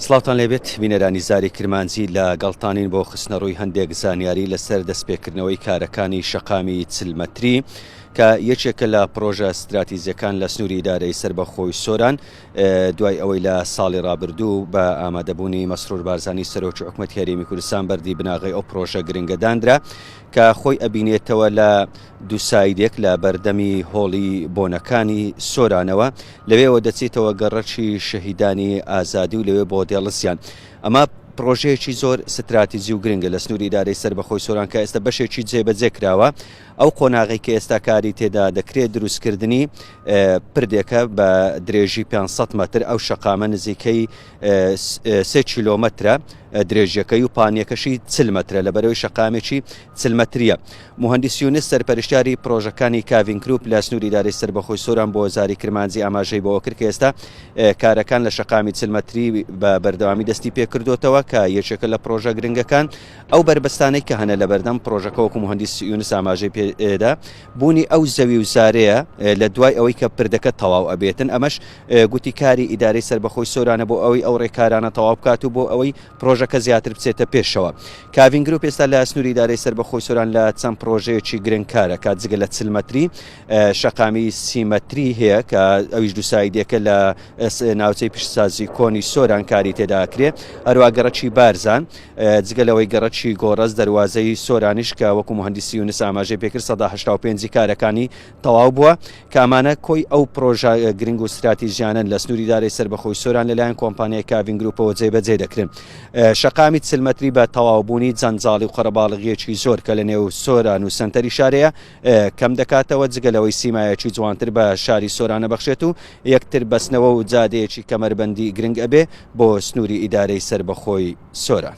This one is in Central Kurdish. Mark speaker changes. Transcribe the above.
Speaker 1: سڵاوتان لێبێت بینەرانی زاری کرمانجی لە گەڵتانین بۆ خستنەڕووی هەندێک زانیاری لەسەر دەستپێکردنەوەی کارەکانی شەقامی چل مەتری کە یەکێکە لە پرۆژە ستراتیزیەکان لە سنووری دارەی سربەخۆی سۆران دوای ئەوەی لە ساڵی رابردوو بە ئامادەبوونی مەسرور بارزانانی سەرۆکی حکوومەت هەرێمی کوردستان بەردی بناغی ئەو پرۆژە گرنگەدانرا کە خۆی ئەبینێتەوە لە دوو سایدێک لە بەردەمی هۆڵی بۆنەکانی سۆرانەوە، لەوێوە دەچێتەوە گەڕەکی شەهیدانی ئازادی و لەوێ بۆ دێڵسیان. ئەمە پڕۆژەیەکی زۆر ستراتیجی و گرنگە لە سنووری ئیدارەی سەربەخۆی سۆران کە ئێستا بەشێکی جێبەجێ کراوە. ئەو قۆناغی کە ئێستا کاری تێدا دەکرێت دروستکردنی پردێکە بە درێژی 500 مەتر ئەو شەقامە نزیکەی سێ کیلۆمەترە درێژیەکەی و پانیەکەشی چل مەترە لە بەرەوەی شەقامێکی چل مەتریە. موهەندیس یونس سەرپەرشتیاری پرۆژەکانی کاڤین کروپ لە سنووری دارەی سەربەخۆی سۆران بۆ زاری کرمانجی ئاماژەی بەوەکرد کە ئێستا کارەکان لە شەقامی چل مەتری بە بەردەوامی دەستی پێکردۆتەوە کە یەکێکە لە پرۆژە گرنگەکان ئەو بەربەستانەی کە هەنە لەبەردەم پرۆژەکە وەکو موهەندیس یونس ئاماژەی پێدا بوونی ئەو زەوی و زارەیە لە دوای ئەوەی کە پردەکە تەواو ئەبێتن ئەمەش گوتی کاری ئیدارەی سەربەخۆی سۆرانە بۆ ئەوەی ئەو ڕێکارانە تەواو بکات و بۆ ئەوەی پڕۆژەکە زیاتر بچێتە پێشەوە. کاڤین گروپ ئێستا لە سنووری ئیدارەی سەربەخۆی سۆران لە چەند پڕۆژەیەکی گرنگ کارەکات جگە لە چل مەتری شەقامی سی مەتری هەیە کە ئەویش دووسایدێکە لە ناوچەی پیشسازی کۆنی سۆران کاری تێداکرێ هەروە گەڕکی بارزان جگە لەوەی گەڕکی گۆڕەز دەواازەی سۆرانیش کە وەکو مهندسی یونس ئاماژەی پێکرد 1970 کارەکانی تەواو بووە، کە ئەمانە کۆی ئەو پڕۆژە گرنگ و ستراتیژیانەن لە سنووری دارەی سەربەخۆی سۆران لەلایەن کۆمپانیای کاڤین گرووپەوە جێبەجێ دەکرێن. شەقامی چل مەتری بە تەواوبوونی جەنجاڵی و قەرەباڵغییەکی زۆر کە لە نێو سۆران و سەنتەری شارێیە کەم دەکاتەوە، جگە لەوەی سیمایەکی جوانتر بە شاری سۆران ئەبەخشێت و یەکتر بەستنەوە و جادەیەکی کەمەربەندی گرنگ ئەبێ بۆ سنووری ئیدارەی سەربەخۆی سۆران.